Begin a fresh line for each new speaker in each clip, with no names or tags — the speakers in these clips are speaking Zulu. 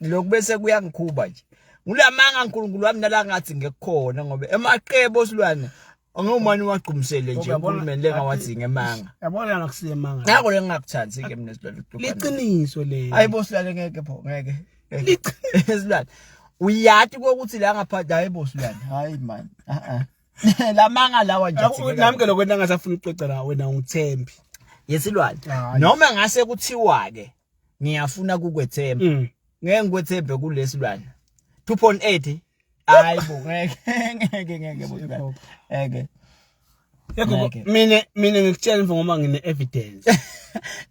ngilokhu bese kuyangikhuba nje ngilamanga uNkulunkulu wami nala ngathi ngekukhona ngoba emaqebo osilwane angomani wagqumisele nje uNkulunkulu lengawathi ngemanga yabona nakusiyemanga
nako lengakuthandi
ke mina silwane liqiniso le
ayibo silwane ngeke pho
ngeke liqiniso uyati kokuthi la ngaphandle ayibo silwane hayi man a ah, a ah. lamanga lawa nje nami ke lokho engasafuna
uxoxa nawe wena ungithembi yesilwane
noma ngase kuthiwa ke ngiyafuna kukwethemba mm. ngeke ngikwethembe kulesilwana 2.8 hayi bo ngeke ngeke ngeke bo ngeke Yekho
mina mina ngikutshela mfo ngoba ngine evidence.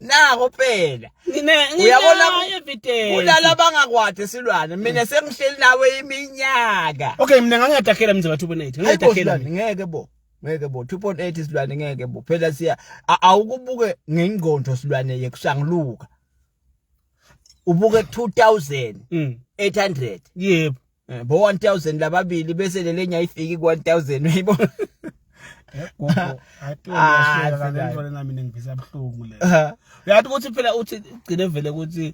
Nako
phela. Ngine uyabona
evidence. Kulala bangakwade
silwane. Mina mm. sengihleli nawe iminyaka. Okay mina ngangiyadakhela
mzimba 2.8. Ngiyadakhela ngeke bo.
ngeke bo 2.8 isilwane ngeke bo phela siya awukubuke ngengqondo silwane yekusangluka ubuke 2800 mm. yebo eh, bo
1000
lababili bese lelenya ifiki ku 1000 uyibo
Gogo, athi ah, uyashela kanjalo nami ngivisa buhlungu le. Uyathi ukuthi phela uthi ugcine vele ukuthi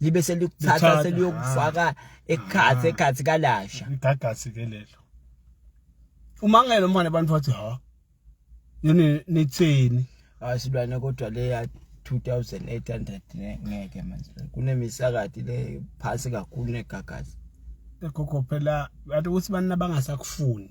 libe selikuthatha Lithatha, seliyokufaka ah, ekhathi ah. ekhathi kalasha igagasi ke lelo
umangele umane abantu bathi ha yini nithini asilwane
kodwa le ya 2800 ne- ngeke manje kunemisakati le phasi kakhulu negagasi egogo
phela bathi ukuthi bani abangasakufuni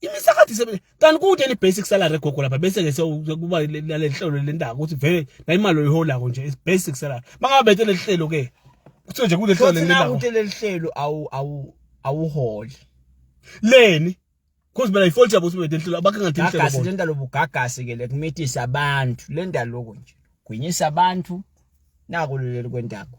imisakathi isebenza kanti kude ni basic salary gogo lapha bese ke sekuba lelihlelo lendaba ukuthi vele la imali oyiholako nje is basic salary mangabe bethe lelihlelo ke kuthiwe nje kude hlelo lendaba ukuthi lelihlelo awu
awu awuholi
leni Cause mina ifault yabo sibethe lelihlelo abakhe ngathi ihlelo gagasi lenda lobugagasi
ke lekumithisa abantu lenda lokho nje gwinyisa abantu naku leli kwendaba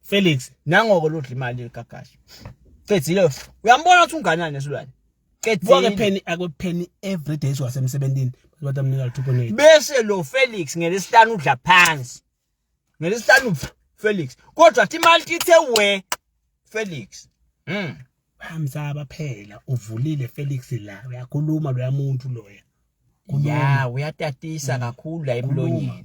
Felix
nangoko lodla imali
yegagashi qedile uyambona ukuthi unganani nesilwane qedile pheni
akupheni every day siwasemsebenzini bathi amnika 2.8 bese lo Felix
ngelesihlanu udla phansi ngelesihlanu Felix kodwa athi imali ithe we Felix mhm
hamsaba phela uvulile Felix la uyakhuluma loya muntu loya ya
uyatatisa kakhulu la emlonyeni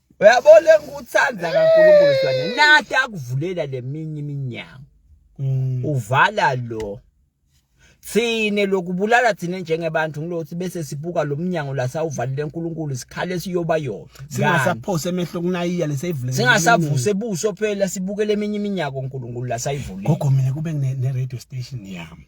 uyabona ngikuthanda kaNkulunkulu sibane nathi akuvulela leminye iminyango mm. uvala lo thine lokubulala thina njengebantu ngilothi bese sibuka lomnyango la sawuvalile uNkulunkulu sikhale siyoba yona singasaphose emehlo
kunayiya lesayivule singasavuse ebuso
phela sibukele eminye iminyaka uNkulunkulu la sayivule gogo mina kube ne
radio station yami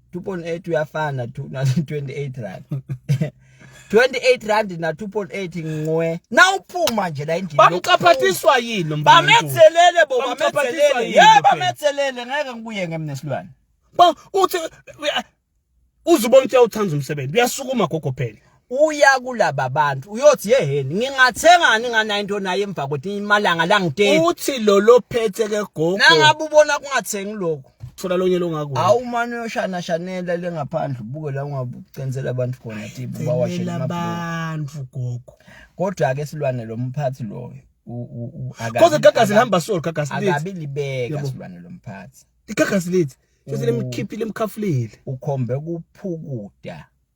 2.8 uyafana tu na 28 rand 28 rand na 2.8 ngwe nawuphuma nje la endlini bamqaphathiswa yini
mfana bamethelele bo
bamethelele yebo bamethelele ngeke ngibuye ngemnesilwane ba uthi
uzubona ukuthi uyawuthanda umsebenzi uyasukuma gogo phela uya kulaba
bantu uyothi yeheni ngingathengani nganayinto naye emva kwethi imalanga langiteki uthi lo lophethe
ke gogo nangabe ubona kungathengi
lokho thola lonye longakuwe
awu manje uyoshana
shanela le ngaphandle ubuke la ungabucenzela abantu khona ti bawashela abantu
gogo kodwa ke
silwane lo mphathi loyo
Koze gagasi lihamba solo gagasi lithi akabi libeka
silwane lo mphathi igagasi lithi
sesilemkhiphile emkhafulile ukhombe
kuphukuda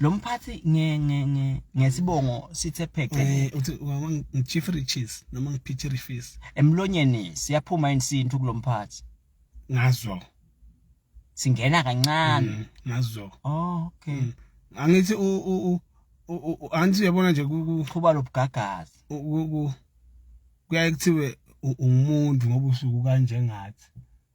lo
mphathi nge nge nge ngesibongo sithe phece eh uthi wama
ngichief riches noma ngiphithi rifis emlonyeni
siyaphuma insintu kulomphathi ngazo singena kancane mm, ngazo oh
okay
mm. angithi
u u u anti uyabona nje kuqhuba lobugagazi kuyaye kuthiwe ungumuntu ngoba usuku kanjengathi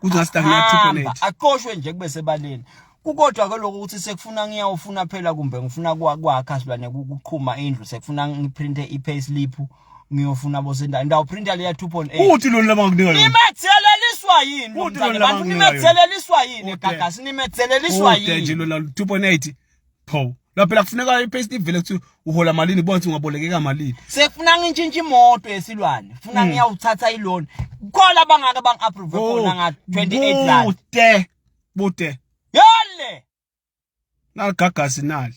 kuzost akuyathupelate aqoshwe nje kube
sebaleni kukodwa ke lokho ukuthi sekufuna ngiyawufuna phela kumbe ngifuna kwakha silwane kuqhuma indlu sekufuna ngiprinte i-pay slip ngiyofuna bosendala ndawuprinta leya 2.8 uthi lona laba ngikunika yona
nimetheleliswa
yini uthi lona laba ngikunika yona nimetheleliswa yini gagasi nimetheleliswa yini uthi nje lona 2.8
pho la phela kufuneka ipaste ivele kuthi uhola malini bonke ungabolekeka malini sekufuna ngintshintshe
imoto yesilwane funa hmm. ngiyawuthatha iloan khona abangaka bang approve oh, khona nga 28 rand bude bude
yale nagagasi nali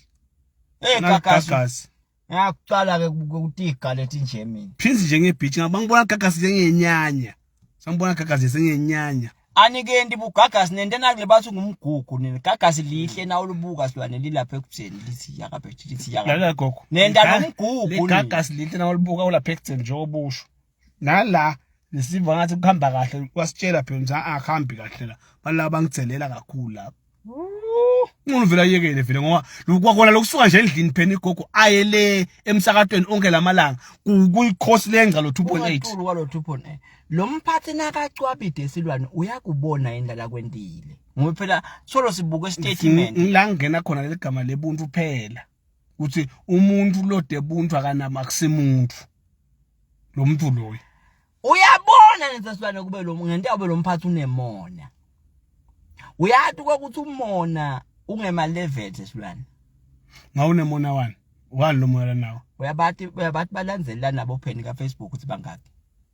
eh
gagasi Ngiyakuqala ke ukutiga leti Germany. Prince njenge beach ngaba
ngibona gagasi njengenyanya. Sambona gagasi njengenyanya. Anikenti
bugagasi nente nakule bathi ngumgugu nini gagasi lihle na ulubuka silwane lilapha ekubuseni lithi yakabethi lithi yakabethi. Lala gogo. Nenta
nomgugu.
Gagasi lihle na
ulubuka ulapha ekubuseni njengoba usho. nala nesiva ngathi kuhamba kahle wasitshela phela ukuthi akuhambi kahle la balaba bangithelela kakhulu lapho umuntu vele ayekele vele ngoba kwakhona lokusuka nje endlini phela igogo aye le emsakatweni onke lamalanga kuyikhosi lenza lo 2.8 kwalo 2.8
lo mphathi nakacwabide esilwane uyakubona indala kwendile ngoba phela solo sibuke statement la ngena khona
leligama lebuntu phela ukuthi umuntu lode buntu akanama kusimuntu lo muntu loyo uyabona
ngesesilwane kube lo ngento yabe lo mphathi unemona uyati ukuthi umona ungema level sesilwane ngawunemona
wani wani lo moya nawo uyabati uyabati
balandelana nabo pheni ka Facebook ukuthi bangaki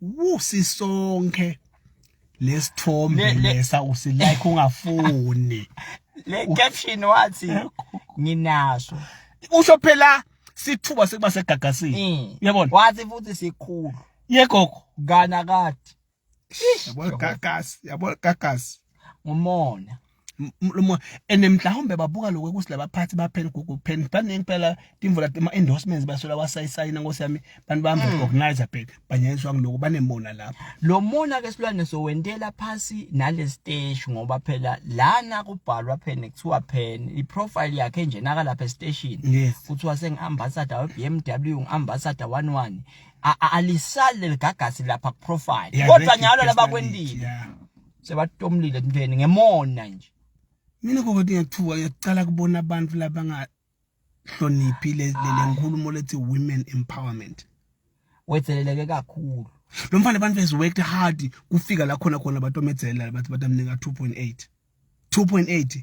wusi sonke lesithombe lesa usilike ungafuni le
caption wathi nginaso usho
phela sithuba sekuba segagasini mm. uyabona wathi futhi sikhulu
yegogo
kana kade
yabo gagasi
yabo gagasi ngumona
lomoya
and mhlawumbe babuka lokho ukuthi labaphathi baphela kukuphela baningi phela timvula ama-endorsements basola wasayisayina nkosi yami bantu bami mm. organizer phela banyanyiswa kuloku banemona lapho lo mona-ke silwane
sowentela phasi nale siteshi ngoba phela lana kubhalwa phela kuthiwa phela i-profile yakhe nje nakalapha esiteshini kuthiwa sengi-ambassador we-b m w ngi-ambassador one one alisali leligagasi lapha kuprofile kodwa nyalo labakwendile sebatomlile ntweni ngemona nje mina kokoti
ngiyathuka ngiyacala kubona abantu labangahloniphi le nkulumo lethi women empowerment wetheleleke
kakhulu lo mfana abantu has
worked hard kufika la khona khona batomedzela bathi batamnika 2.8 2.8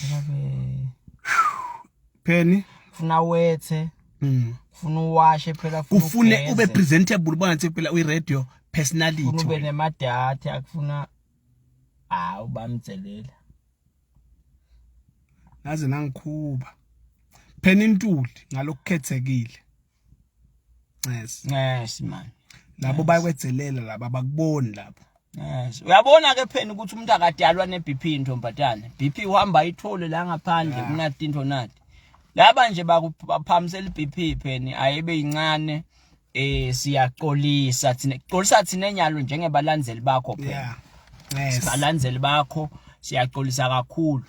Babe. pheni Funa wethe.
Mm. Funa uwashe phela funa kufune ugeze, ube
presentable ubona ngathi phela uyi-radio Funa ube personality nemadata
akufuna ah ubamtselela.
naze nangikhuba pheni intuli ngalokukhethekile
Yes. Yes man. Labo yes.
bakwedzelela laba bakuboni lapho. Yes. Uyabona
ke phela ukuthi umuntu akadalwa ne BP intombazane. BP uhamba ithole la ngaphandle yeah. kunathi into nathi. Laba nje bakuphamisela iBP phela ayibe incane eh siyaxolisa thina. Xolisa thina enyalo njengebalandeli bakho phela. Yeah. Yes. Balandeli bakho siyaxolisa kakhulu.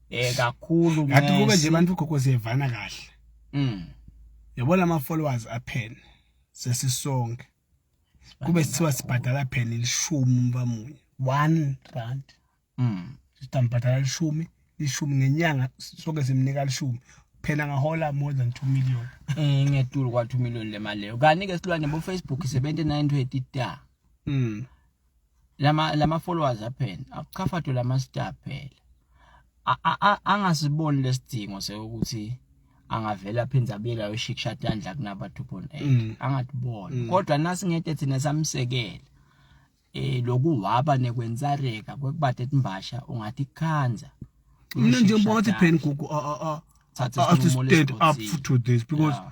eh kakhulu ngathi kube nje
abantu gogo siyevana kahle mm yabona ama followers aphene sesisonke kube sithiwa sibhadala phela ilishumi umbamunye 1 rand mm sitambhadala ilishumi ishumi ngenyanga sonke simnika lishumi phela ngahola more than 2 million eh ngiyatulu kwa
2 million le mali leyo kanike silwane bo Facebook 7920 da mm lama lama followers aphela akuchafatwe lama star phela angasiboni lesidingo sekuthi angavela aphinde abuyela yoshikisha tandla kunaba 2.8 mm. angatibona mm. kodwa nasingede thina samsekela eh lokuhaba nekwenzareka kwekubade timbasha ungathi khanza mina nje
ngibona ukuthi pen gugu a a a a stand up to this because yeah.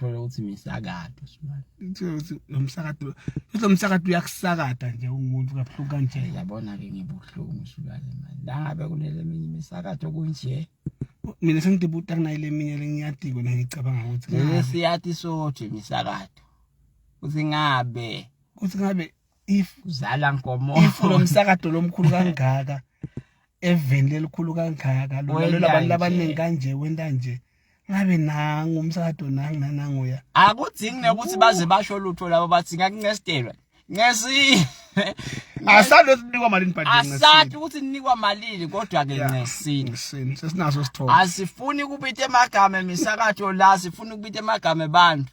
thola ukuthi misakado
sibani nomsakado lo msakado uyakusakada nje ungumuntu kabuhlungu kanje yabona ke ngibuhlungu
sibani manje la ngabe kunele minye imisakado kunje mina
sengidebuta kunayile minye lengiyadiko la ngicabanga ukuthi ngeke siyati sothi
imisakado uthi ngabe uthi ngabe if zala nkomo
if lo msakato lomkhulu kangaka eveni lelikhulu kangaka lolalela abantu labaningi kanje wenta nje ngabe nangu umsakato nangu nananguya akudzingi nekuthi
baze basho lutho labo bathi ngakunceselwa ncesi
asali ukuthi ninikwa malini but asali ukuthi ninikwa
malini kodwa ke ncesini sesinaso sithombe
asifuni kubita
emagama emisakato la sifuna ukubita emagama abantu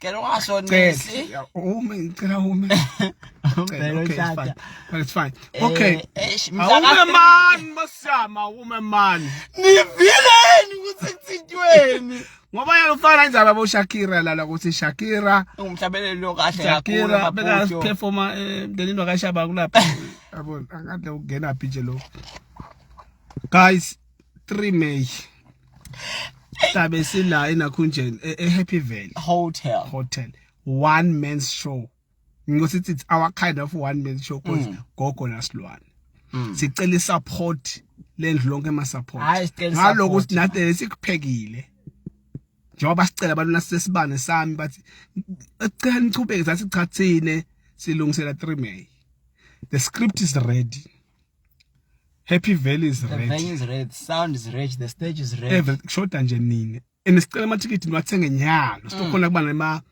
Cela
ungashonisi. Ume ngicela
ume. Ngicela okay, it's fine. But it's fine. Eh, okay. Eh, awume
man
masama awume man. Nivileni
ukuthi kuthintweni. Ngoba yena ufana
injalo abo Shakira lala ukuthi Shakira umhlabeleli lo
kahle kakhulu Shakira beka
performa eh, emndenini wakashaba kulapha. Yabona akade ukungena phi nje lo. Guys 3 May Sabe sila enakhunjeni e, e Happy Valley Hotel Hotel one man show ngokuthi it's our kind of one man show cause mm. gogo nasilwane mm. sicela isupport lendlu lonke ema support ngaloku sinathi sikuphekile njengoba sicela abantu nasesibane sami bathi ecela nichubeke sathi chathine silungisela 3 May the script is ready Happy Valley is red. The venue is red, sound
is red, the stage is red. Every shoda nje nini.
And sicela ama ticket niwathenge nyalo. Mm. Sizokhona kuba nema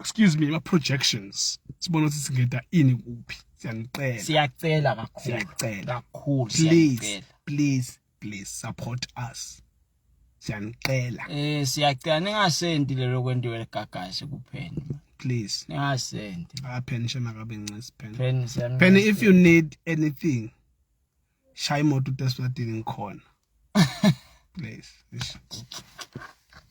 excuse me, ma projections. Sibona ukuthi singeda ini kuphi. Siyanicela. Siyacela
kakhulu. Siyacela. Kakhulu. Please,
please. please support us siyanicela eh siyacela
ningasendi lelo kwentiwe ligagasi kuphela please
ningasendi
ah pen shema
kabe ncisi pen pen pen if you need anything shaya imoto uteswadini ngikhona please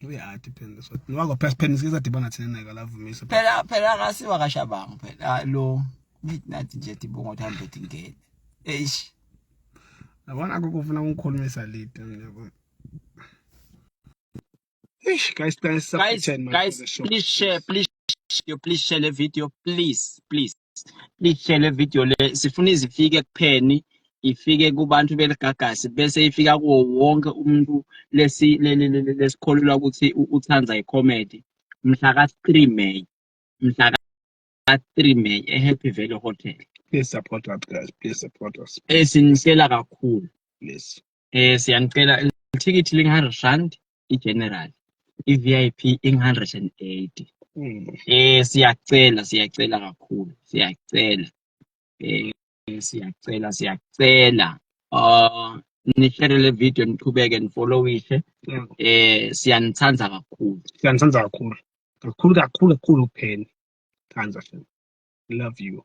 ibe hard
phela so nowako phela phela siza dibana thina naye kalavumisa phela phela akasiwa
kashabangu phela ah, lo midnight nje dibongo thambe tingene eish yabona
akukho ufuna ukukhulumisa late yabona Eish guys guys guys, guys please share please share
please share the video please please lihlele video le sifuna izifike kupheni ifike kubantu beligagasi bese ifika kuwo wonke umuntu lesi lesikholelwa ukuthi uthanda icomedy mhla ka-3 May mhla ka-3 May eHappy Valley Hotel please support us
guys please support us esinihlela
kakhulu please
eh siyanicela
ithikithi lingu-hundred rand i-general i-vip ingu-hundred and eighty hmm. eh siyacela siyacela kakhulu siyacela eh siyacela siyacela uh nishere le video niqhubeke nifollowishe hmm. eh siyanithanda kakhulu siyanithanda kakhulu
kakhulu kakhulu kakhulu pheni thanda love you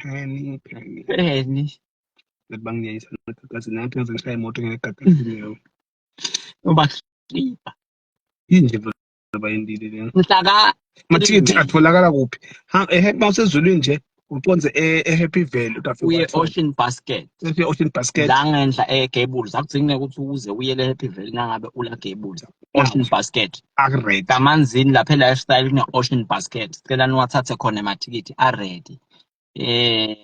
Phani,
phani.
Eni. Ngathi
bangiyayisa ngagagazi nathi ngaze ngishaya imoto ngegagazi
nyawo.
Ubahlipha. Inje bayindile lena. Mhlaka.
Amathikithi atholakala
kuphi? Ha ehe mawusezulwini nje uconze e- eHappy Valley utafika. Uye uwathola. Ocean Basket.
Efe Ocean Basket.
La ngenhla eGables
akudzingi ukuthi uze uyele Happy Valley nangabe ula Gables. ocean basket akuredi amanzini
lapha
e-lifestyle kune-ocean basket sicela niwathathe khona emathikithi aredi eh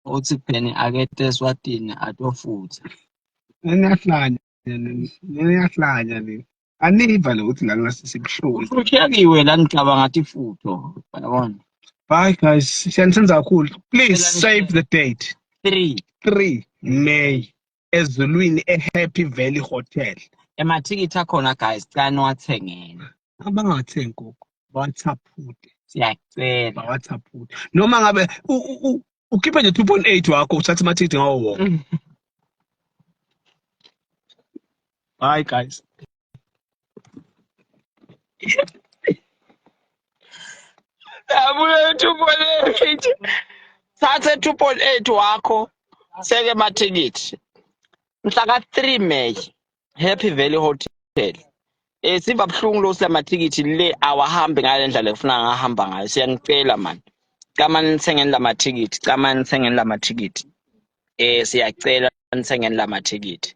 uthi pheni akete eswatini atofutha niyahlanya
niyahlanya le aniva le ukuthi la ngasisibuhlungu ushiyakiwe la
ngicabanga athi futho yabona Bye guys,
siyanisenzela kakhulu. Please save the date. 3 3 May ezulwini ehappy valley hotel emathikithi
akhona guys cela niwathengeni abangathengi
nkukhu bawathaphute siyacela
bawathaphute
noma ngabe ukhiphe nje 2.8 wakho uthathe amathikithi ngawo wonke mm. Bye, guys.
Nabuya 2.8. Thathe 2.8 wakho seke amathikithi. Mhla ka 3 May Happy Valley Hotel. Eh siba buhlungu lo silamathikithi le awahambi ngale ndlela efuna ngahamba ngayo. Siyanicela man. Cama nithengeni lamathikithi, cama nithengeni lamathikithi. Eh siyacela nithengeni lamathikithi.